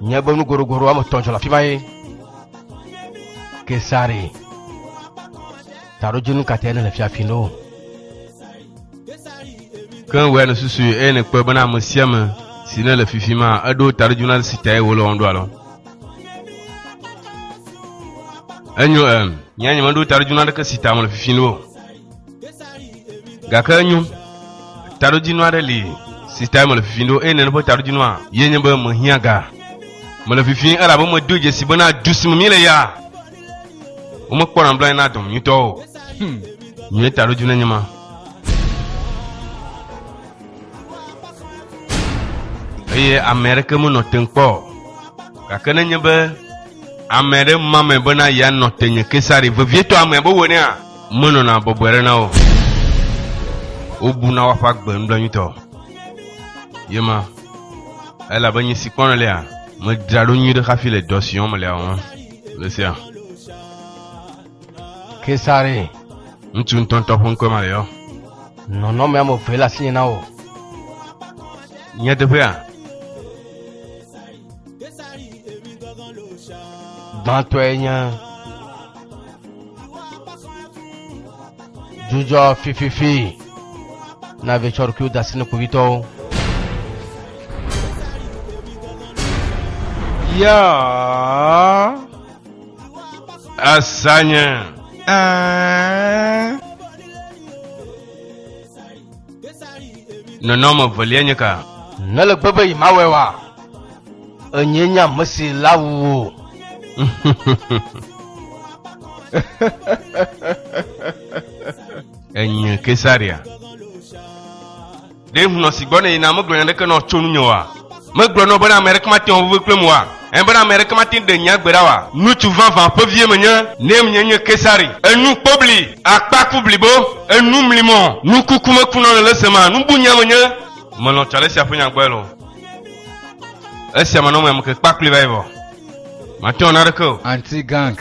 Nye be nu goɖogoɖo woame etɔ̃ dzɔ le afi ma ye. Kesari. Taɖodzinu ka te ne le fiafi ne o. Ke wòe ne susu eye ne kpɔe bena ame sia ame si ne le fifi ma eɖo taɖodzinu na si tae wòle wɔm ɖo alɔ. Enyo em. Nye nye meɖo taɖodzinu aɖeke si ta mele fifi ne o. gake enyo taɖodzinu aɖe li si tae mele fifim ɖo eye nene ƒe taɖodzinua ye nye be mehiã ga mele fifim elabe medo dzesi bena du si me míele ya womekpɔna nublanui na dɔm nyuitɔ o hmm. nye taɖodzinu enye ma eye ame aɖeke menɔ te kpɔ gake nenye be ame aɖe ma me bena yeanɔ te nye kesari vevietɔ ame be wɔnea Menɔna bɔbɔe ɖe na wo. Wobuna woaƒe agbe nublanuitɔ. Ye ma, elabe nye si kpɔnɔ lea, medzra ɖo nyuiɖe hafi le dɔ si wɔm melea wɔm le sia. Kesare. Ŋutsu ŋutɔŋutɔ ƒe ŋkɔe ma le yɔ. Nɔnɔme ame eve le asinye na wò. Nyateƒea? Gbãtɔe nye dzudzɔ fififi na vetsɔ ɖokuiwo da asi ne kpovitɔwo. Ya asanye. Ɛɛ. Nɔnɔme velia nye ka? Nele gbe be yi mawɔe wa? Enye nye ame si la wu wo. Enye Kesaria. Ɖe ŋunɔ si gbɔ ne yina megblɔ nya ɖeke nɔ tso nunye wa? Megblɔ nɔ bena ameɖeke mate ŋu aʋuve kplem oa? Ẽ, bena ameɖeke mate ŋu ɖe nya gbe ɖa oa? Ŋutsu vavã ƒe vie menye, ne menye nye Kesari. Enu kpobli, akpaku blibo, enu mli mɔ, nukuku mekunɔ le lese ma, nubunya menye. Melɔ̃ tsɔ alesia ƒe nya gbɔe loo. Esia manɔ me ameke kpakpli va yi vɔ. Mate ŋu ana ɖeke o. Anti-gang.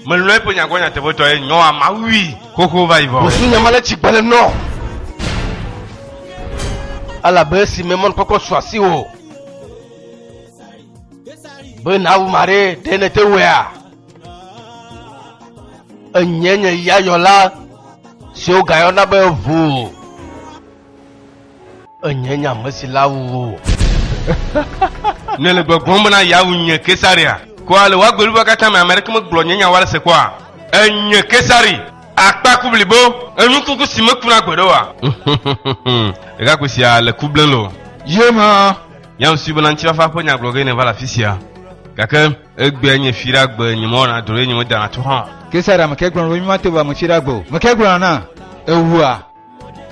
Melɔ̃e ƒe nyagbɔ nyateƒetɔ ye nyɔ ama wui xoxo va yi vɔ. Wosu nyama le tsi gbele nɔ. Elabe esi me mɔnukpɔkpɔ su asi wò be nàwu ma ɖe ɖe nete wɛa. Enye nye ya yɔla siwo gayɔna be ʋu. Enye nye ame si la wu wò. Nèle gbɔgblɔm bena yeawu nye Kesaria? Ko ale wò agbeɖuɖua katã me ame aɖeke megblɔ nye nya woalese kpɔa? Enye Kesari! Akpa ku blibo! Enu kuku si mekuna gbeɖe oa? Ɖekakpui sia le ku blem loo. Ye ma! Yam sue bena ŋutifafa ƒe nya gblɔ ge nèva le afisia. Gake egbea nye fi ɖa gbe, nyemewɔna drɔ̃ eye nyemedana to hã o. Kesaria, meke gblɔna be mí mate wu ame fi ɖa gbe o? Meke gblɔna na ewua?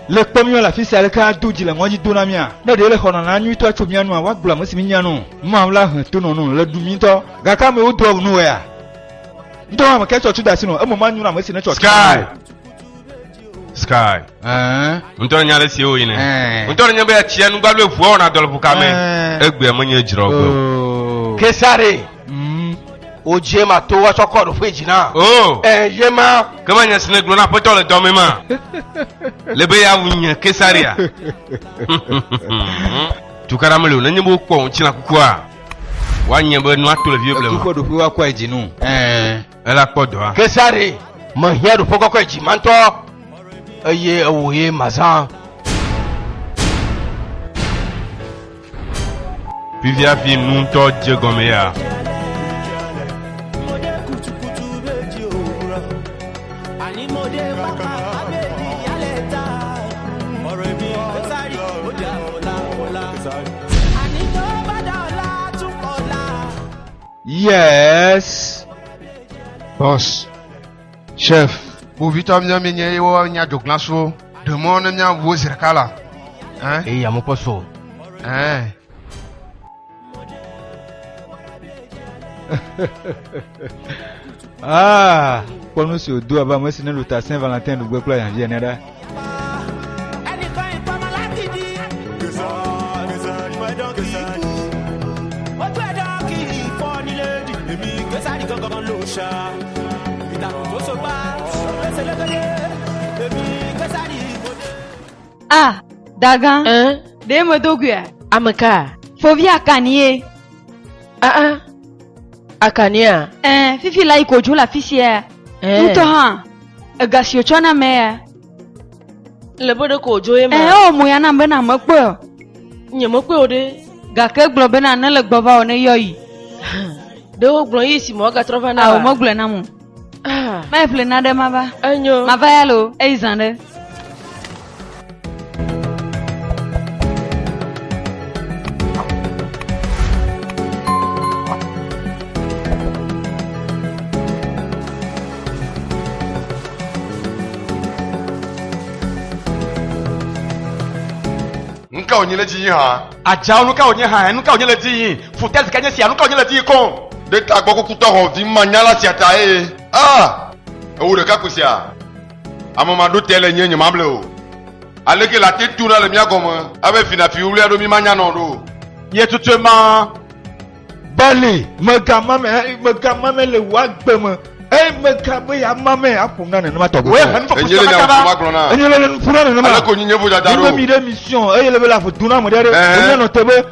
Le kpɔ míɔ le afisia aleke ado dzi le ŋɔdzi do na mía. Ne ɖe le xɔna na nyuitɔ tso mía nua woagblɔ ame si mínya nɔ. Mawu la he to nɔ nɔ le ɖu mítɔ. Gake amewo doa ŋu nɔwɔea. Ŋdɔ hã me kɛ tsɔ tso da si nɔ eme ma nyuna ame si ne tsɔ. Sky. Sky. Ɛɛ. Ŋdɔ nya le si wo yi ne. Ŋdɔ nya be ya tsia nu gbalo evuɔ wɔna dɔlɔƒo kame. Egbea menye dzrɔ gbeo. Kesare. Mm. Wodze ma to wa tsɔkɔ ɖo ƒe dzina. Oh. Eh, ye ma. Ke ma nya sine gblɔ na aƒetɔ le dɔme ma. Le be ya wu nye kesaria. Tukara mele o, nenye bo kpɔ ŋutsina kukua. Wa nye be nua to le vie blema. Tukɔ ɖo ƒe wa kɔ edzinu. Eh. Ela kpɔ dɔa. Kesare, mehiã ɖoƒe kɔkɔe dzimãtɔ, eye ewòe mazã. Fifia fi nu ŋutɔ dze gɔme ya. Yes. Boss. Chef. Kpovitɔ míɔ mi nye yewo nya dzoglã so. Ɖemɔ ne mía wo zi ɖeka la. Ɛn. Eyi amu kpɔ so. Ɛn. ah, kpɔ nu si wòdo abe ame si ne lu ta Saint Valentin ɖugbe kple ahiãvi ene ɖa. Ah, Dagan, Hein? ɖe medo gui a? Ame ka? Fovi akanie. Ah ah. Akania. Ɛɛ, fifi la yi ko dzo le afi sia. Hein? Ŋutɔ hã. Ega si wòtsɔ na mɛ ya. Le be ɖeko wòdzo ye me. Ɛɛ wɔ mo ya nam be na mekpɔe o. Nye mekpɔe o ɖe. Gake gblɔ be na ne le gbɔ va o ne yɔ yi. Ɖe wogblɔ yi si me woagatrɔ va na. Ao megblɔe na mo. Ah. Mɛ ƒle na ɖe mava. Enyo. Mava ya lo eyi zã ɖe. ka wònye le dzi hã. adzawo nu ka wònye hã nu ka wònye le dzi yi futɛsi ka nye sia nu ka wònye le dzi yi kɔn. ɖe ta gbɔ kukutɔ hɔn vi ma nyala sia ta eye aa ewu ɖeka ko sia. Ame ma ɖo te le nye nye ma ble o. Aleke la te tuna le mía gɔme abe fina fi wlea ɖo mi ma nyanɔ ɖo. Ye tutue ma bali mega ma me mega ma me le wa gbe me. Eye mega be ya ma me aƒom na nenema tɔgbe. Wo ehe nufa kusa kata ba. Enye le nufa nenema. Aleke wonyi nye vodada ɖo. Nye mi ɖe mission eye le be la voduna mo ɖe ɖe. Enye nɔ te be.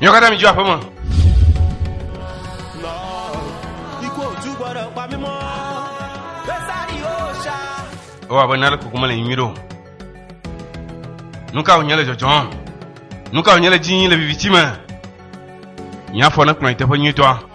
Nyɔ kata mi jua pema. O abe nale kukuma le nyuiɖo. Nuka wònye le dzɔdzɔm? Nuka wònye le dzi le viviti me? Nye afɔ nekplɔ yi teƒe nyuitɔa.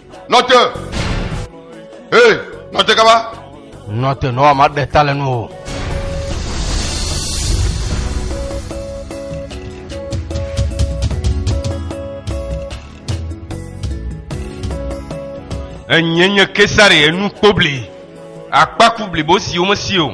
Nɔte! Hee, nɔte kaba! Nɔte, nɔwa ma ɖe ta le nu o. Enye nye Kesare enu kpobli, akpaku blibo siwo mesi o.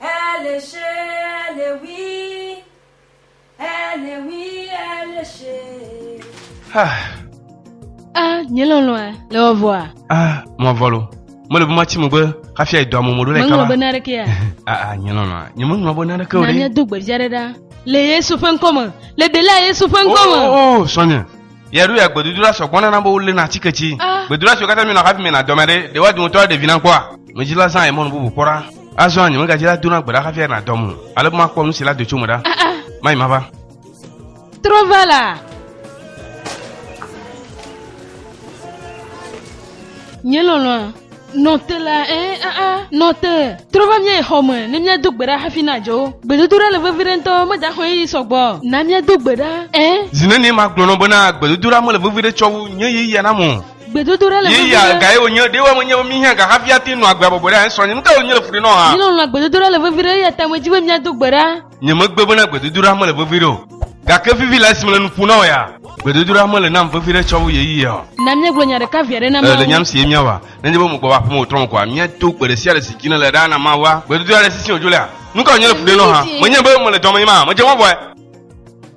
Elishe, Elewi, Elewi, Elishe. Ah, Ah, nye lɔlɔ̃a, le wɔvɔa, ah, mɔvɔlo. Mele be matsi megbe hafi ayi dɔa me mɔɖo le meŋlɔ be kaba. naɖekea. Ah, ah, nye lɔlɔ̃a. Nye meŋlɔ be naneke o Na ɖe. míado gbeɖidzia ɖe ɖa le Yesu ƒe ŋkɔ me, le ɖela Yesu ƒe ŋkɔ me. Oh, oh, oh, srɔ̃nye. Ye ɖo ya gbedodoɖa sɔ gbɔ nana be wo lena atike tsi. Ah. Gbedodoɖa siwo katã mienɔ hafi mienɔ adɔme ɖe, ɖe woa dometɔ aɖe ɖevi na kpɔa? Medzidzi la zã ye mɔnu bubu kpɔ ɖa. Azɔ anyi megadzi la dona gbe ɖa hafi anɔ adɔm o. Ale be makpɔ nu si la do tso me ɖa. Ah, ah. Mayi mava. Trɔ va la. Nye lɔlɔ̃a. Nɔ te la, ẽ, aa, nɔ te. Trɔ va mía xɔ me ne míado gbe ɖa hafi nàdzo. Gbedodoɖa le vevi ɖe ŋutɔ, medaxɔ ɣeyiɣi sɔ gbɔ na míado gbe ɖa, ẽ. Zi nenie magblɔ nɔ bena gbedodoɖa mele vevi ɖe tsɔ wu nye ɣeyiɣia nam o? Gbedodoɖa le vevi ɖe. Ɣeyiɣia gae wònye? Ɖe woe menye be míhiã ga hafi ate ŋu nɔ agbe abɔbɔe ɖe anye srɔ̃nye? Nu kae wònye le fu ɖe nɔ ha? Mílɔ̃lɔ̃a gbedodoɖa le vevi ɖe, eya ta medzi be míado gbe ɖa. Nyemegbe bena gbedodoɖa mele vevi ɖe o, gake vivi le esi mele nu ƒom na wò ya. Gbedodoɖa mele nam vevi ɖe tsɔ wu ɣeyiɣia o. Na míegblɔ nya ɖeka viaɖe na Mawu. Ee, le nyam si ye míawa. Nenye be mègbɔ va aƒeme o trɔ me koa, míado gbe ɖesiaɖe si dzi nèle ɖa na Mawua. Gbedodoɖa ɖe sisiwò dzo lea? Nuka wònye le fu ɖem nɔ hã? Menye be mele dɔmee mahã, medze mɔ vɔe.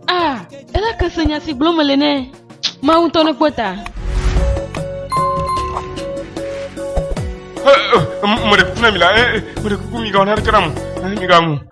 A, ela ke se nya si gblɔm mele nɛ. Mawu ŋutɔ nekpɔ ta. Meɖe kuku na mi la, meɖe kuku migawɔ naneke nam o, migawɔm o.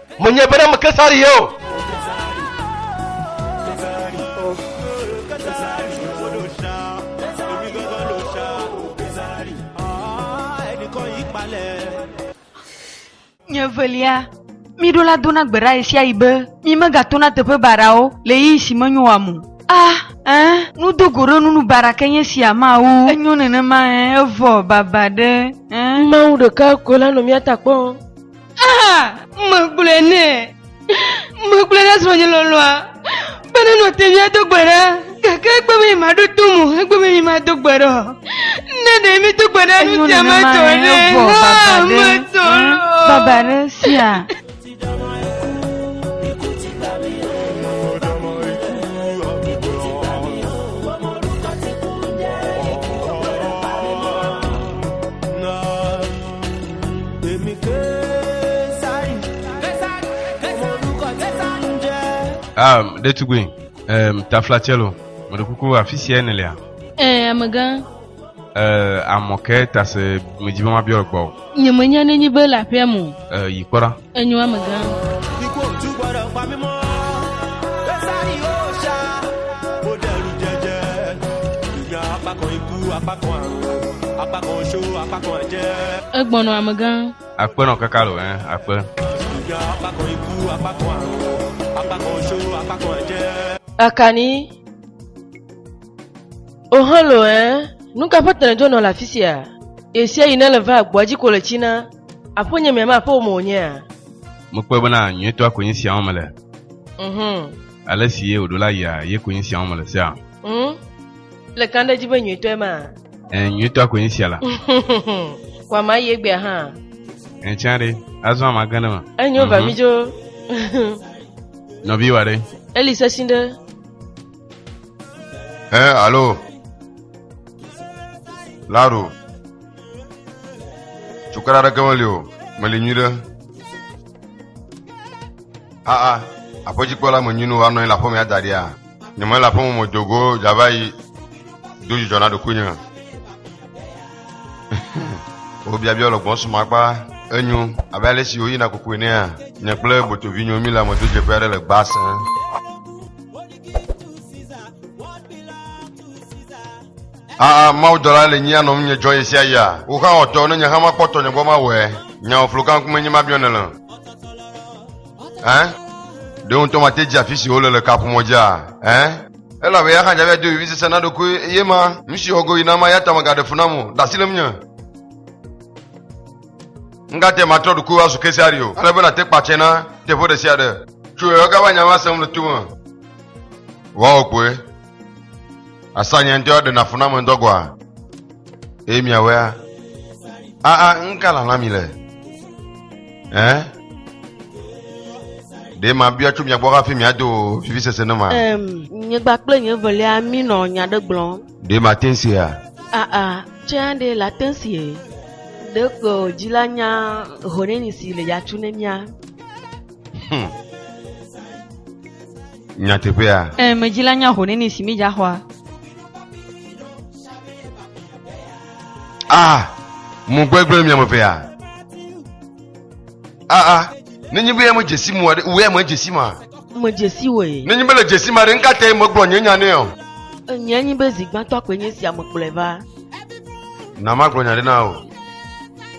Menye be ɖem Kesari ye o. Nye velia, miɖo la dona gbe ɖa ɣesiaɣi be mi megatona teƒe baɖawo le ɣeyiɣi si menyo wam o. Ah, ẽ, nudogoɖonunu baɖa ke nye sia ma wu. Enyo nenema ẽ, evɔ, baba ɖe, ẽ. Mawu ɖekae koe la nɔ mía ta kpɔm. Ah, megblɔe nɛ. Megblɔe na srɔ̃nye lɔlɔa be nenɔ te ŋu ado gbe ɖa gake egbe be maɖo to mo egbe be mado gbe ɖa o. Ne ɖe medo gbe ɖa nu sia me tɔ ɖe ha metɔ lɔ. Baba ɖe sia. Um, ɖetugbui um, taflatselo meɖe kuku afi sia ne lia eh, amegã eh, amɔke tase medzi be mabiɔ gbɔ nyemenya nenyi be le aƒea mo eh, yi kpɔɖa Enyo ame gã. Egbɔnɔ ame gã. Akpe nɔ kaka lo ɛ akpe. Akani. Ohalo ɛ. Nuka ƒe tɛnɛdzo nɔ le afisia? Ɣesiaɣi ne le va agboa dzi ko le tsina. Aƒonye mea, ma ƒome wònyea? Mekpɔe bena nyuitɔa konyi sia wɔm mele. Mhm. Ale si ye wòɖo la yia, ye konyi sia wɔm mele sea. Mhm. Le kan ɖe edzi be nyuitɔe ma. Ẽ, nyuitɔa konyi sia la. Ko ama yi egbea hã. Ẽ, tsã ɖe, azɔ ama gã ɖe me. Enyo va mi dzo. Nɔvi wa ɖe. Eli sesĩ ɖe. Ẽ, alo. Laro. Cukaɖe aɖeke meli o, meli nyui ɖe. Aa, aƒedzikpɔla menyui nu woanɔ anyi le aƒemea da ɖia? Nye mele aƒeme me do go dzava yi do dzidzɔ na ɖokuinye. Wobiabia le gbɔn suma kpa enyo abe ale si woyina kuku enea. Nye kple botovi nyo mi le amedo dzeƒe aɖe le gbasẽ. aa mawudɔla le nyia nɔm nye dzɔ yesia ya woxa ɔtɔ ne nye hã makpɔtɔ nye gbɔ mawɔe nyawoflo kan kume nye mabiɔ ne le ɛ ɖe ŋutɔ mate dzi afi si wole le kaƒomɔ dzia ɛ elabe ya xadza via do vivi sese na ɖokui eye ma nu si wɔgo yi na ma ya tame gaɖe fu nam o ɖe asi lem nye ngate matrɔ ɖokui wa su kesari o ale be nate kpatsɛ na teƒe ɖe sia ɖe tso yɔga va nya ma sem le tome wɔwɔ kpoe Asanya ŋutɔ ɖe nafuna me ŋutɔ gɔa. Eye miawea. Aa ŋka lala mi le. Ɛ. Ɖe ma bia tso mia gbɔ hafi mia do vivi sese ne ma. Ɛm nye gba kple nye velia mi nɔ nya ɖe gblɔ. Ɖe ma te ŋsia. Aa tse aɖe la te ŋsie. Ɖe ko dzi la nya hone ni si le yatsu ne mia. Hmm. Nyateƒea? Ẽ, medzi la nya ho neni si midza xɔa. A, ah, mo gbegblẽ mia mevea. A, ah, a, ah, nenye be me dzesi mo aɖe, wea me dzesi ma. Me dzesi woe. Nenye be le dzesi ma ɖe, nka te megblɔ nye nya nɛ o. Enye nyi be zigbãtɔ kpe nye sia me kplɔe va. Na magblɔ nya ɖe na o.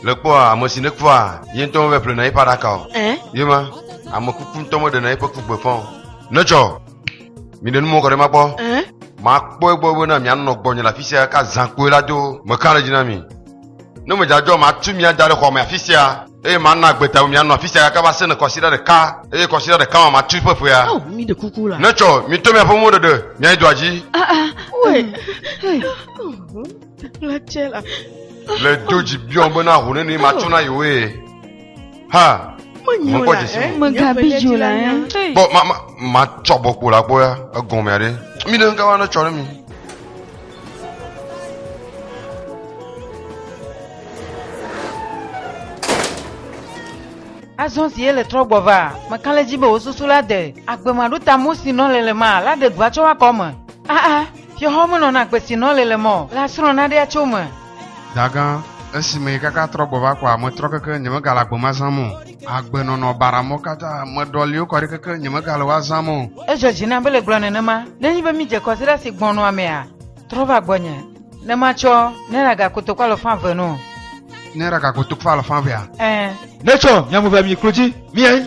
Le kpɔa ame si nekpɔa ye ŋutɔ mevɛ ƒlena yeƒe aɖaka o. Ɛ? Ye ma, ame kuku ŋutɔ meɖena yeƒe ku gbe faa o. Netsɔ! Miɖe nu mɔ kɔ ɖe ema gbɔ. Ɛ? Makpɔ egbɔ bena mianɔ gbɔnye le afi sia ka zã kpoe la do. Meka ɖe edzi na mi. Ne medzadzɔ matu mi ada ɖe xɔ me afi sia, eye mana agbe ta mi mianɔ afi sia gake va se ne kɔsiɖa ɖeka, eye kɔsiɖa ɖeka ma matu eƒe ƒea. Ao, miɖe kuku la. Netsɔ! Mitɔ miaƒe moɖeɖe miayi dua dzi. Aa, aa, ɔe. Hei. Le do dzi biɔ be na ho nene ma tsɔ na yewo ye. Ha. Menyo la ɛ. Megabi dzo la ɛ. Bɔ ma ma ma tsɔ bɔ kpo la gbɔ ya egɔmea ɖe. Mi ɖe ŋga wa ne tsɔ ɖe mi. azɔ si ye le trɔ gbɔ va meka le dzi be wò susu la de agbemaɖutamo si nɔ lelema la ɖe dua tso woakɔ me aa Fiɔhɔ me nɔna kpe si nɔ le le mɔ la srɔ̃ naɖea tso me. Dagã, Esi meyi kaka trɔ gbɔ va kɔa, metrɔ keke nyemegale agbe ma zãm o. Agbe nɔnɔ bara mɔ kata, meɖɔ liwo kɔɖi keke nyemegale woa zãm o. Edzɔ dzi nam be le gblɔ nenema, ne nyi be mi dze kɔsiɖa si gbɔn nɔa mea, trɔ va gbɔnye, ne ma tsɔ Naira ga kotokpo alɔfã eve no. Naira ga kotokpo alɔfã evea? Ẽ. Ne tsɔ mia mu ve mi klo dzi, mi ẽ.